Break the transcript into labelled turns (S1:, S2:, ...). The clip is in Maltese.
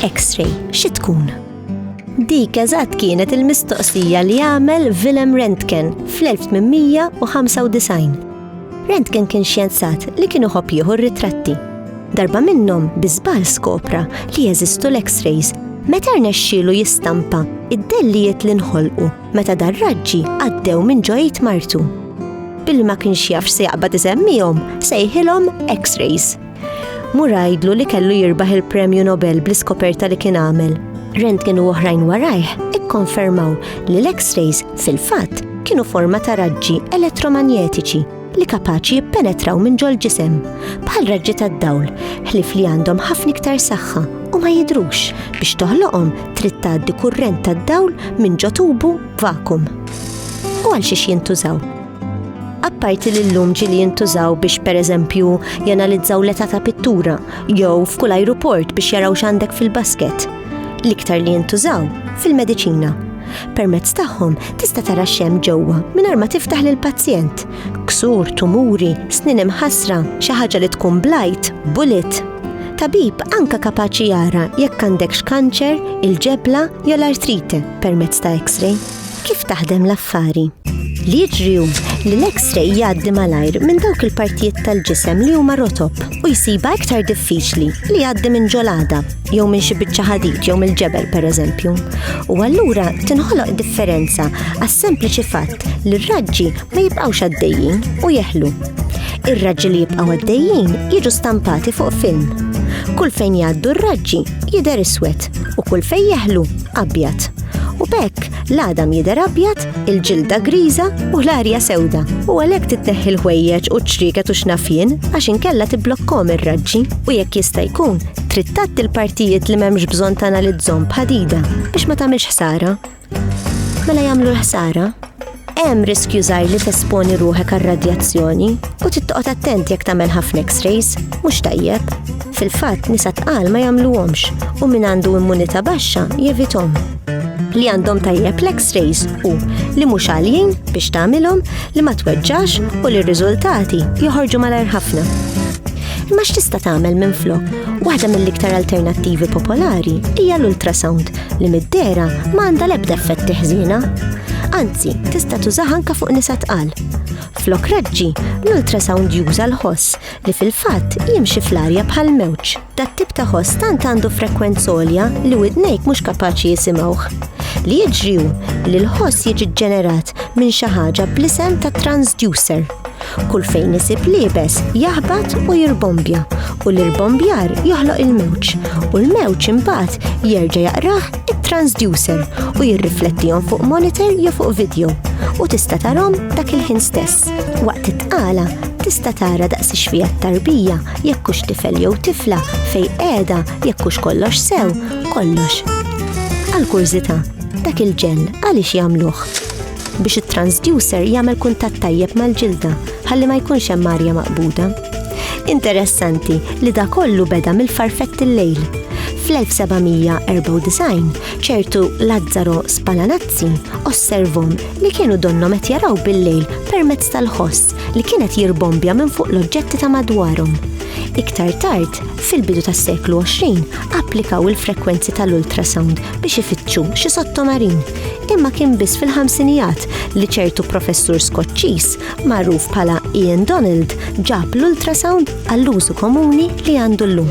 S1: X-ray, xi tkun? Dik eżatt kienet il-mistoqsija li għamel Willem Rentgen fl-1895. Rentgen kien xjenzat li kienu ħobb jieħu ritratti. Darba minnhom biżbal skopra li jeżistu l-X-rays meta rnexxielu jistampa id-dellijiet li nħolqu meta dar-raġġi għaddew minn ġo id martu. Billi ma kienx jaf se jaqbad isemmihom, sejħilhom X-rays. Murajdlu li kellu jirbaħ il-Premju Nobel bl-iskoperta li kien għamel. Rentgen u oħrajn warajh ikkonfermaw li l-X-rays fil-fatt kienu forma ta' raġġi elettromagnetiċi li kapaċi jippenetraw minn ġol ġisem bħal raġġi tad-dawl, ħlif li għandhom ħafna iktar saħħa u ma jidrux biex toħloqhom trid tgħaddi kurrent tad-dawl minn ġo tubu vakum. U għal xiex jintużaw? Apparti li l-lum ġili jintużaw biex per eżempju janalizzaw l-età ta' pittura jew f'kull ajruport biex jaraw x'għandek fil-basket. l-iktar li jintużaw fil-mediċina. Permezz tagħhom tista' tara xem ġewwa mingħajr ma tiftaħ lil pazjent. Ksur, tumuri, snin imħasra, xi ħaġa li tkun blajt, bullet. Tabib anka kapaċi jara jekk għandekx kanċer, il-ġebla jew l-artrite permezz ta' X-ray. Kif taħdem l-affari? Li jiġri hu li l-X-ray jgħaddi malajr minn dawk il-partijiet tal-ġisem li huma rotob u jsiba iktar diffiċli li jgħaddi minn ġolada jew minn xi biċċa ħadid jew mill-ġebel pereżempju. U allura tinħoloq differenza għas-sempliċi fatt li r-raġġi ma jibqgħux għaddejjin u jeħlu. Ir-raġġi li jibqgħu għaddejjin jiġu stampati fuq film. Kull fejn jgħaddu r-raġġi jidher iswed u kull fejn jeħlu abjad. U bekk, l-għadam jidher abjad, il-ġilda griża u l-arja sewda. U għalhekk titneħħi l-ħwejjeġ u ċriket u xnafjien għax inkella tibblokkom ir-raġġi u jekk jista' jkun trid tgħatti l-partijiet li m'hemmx bżonn tanalizzhom b'ħadida biex ma tagħmilx ħsara. Mela jagħmlu l-ħsara? Hemm riskju żgħir li tesponi ruħek għal radjazzjoni u tittoqgħod attent jekk tagħmel ħafna X-rays, mhux tajjeb. Fil-fatt nisa tqal ma jagħmluhomx u min għandu immunità baxxa jevithom. Li għandhom tajjeb l-X-rays u li mhux għaljin biex tagħmilhom li ma tweġġax u li r-riżultati joħorġu malajr ħafna. Imma x'tista' tagħmel minn flok? Waħda mill-iktar alternattivi popolari hija l-ultrasound li mid-dera ma għandha l-ebda effetti ħżiena. Anzi, tista' tużaha anke fuq nisa tqal. Flok raġġi, l-ultrasound juża l-ħoss li fil-fatt jimxi fl-arja bħal mewġ. Dat tip ta' ħoss tant għandu frekwenz olja li widnejk mhux kapaċi jisimgħuh. Li jiġri li l-ħoss jiġi ġġenerat minn xi ħaġa bl-isem ta' transducer. Kull fejn isib liebes jaħbat u jirbombja u l-irbombjar joħloq il-mewġ u l-mewġ imbagħad jerġa' jaqrah it-transducer u jirriflettihom fuq monitor jew fuq video u tista' tarhom dak il-ħin stess. Waqt it-tqala tista' tara daqs ix-xfija tarbija jekk hux tifel jew tifla fej qiegħda jekk hux kollox sew kollox. Għal kurżità, dak il-ġell għaliex jagħmluh? biex it-transducer jagħmel kuntatt tajjeb mal-ġilda ħalli ma jkunx hemm arja maqbuda. Interessanti li da kollu beda mill-farfett il-lejl. Fl-1794, ċertu Lazzaro Spalanazzi osservom li kienu donnom qed jaraw bil-lejl permezz tal-ħoss li kienet jirbombja minn fuq l-oġġetti ta' madwarhom. Iktar tard, fil-bidu tas-seklu 20, applikaw il-frekwenzi tal-ultrasound biex ifittxu xi sottomarin. imma kien biss fil-ħamsinijat li ċertu professur Skoċċiż magħruf bħala Ian Donald ġab l-ultrasound għall-użu komuni li għandu llum.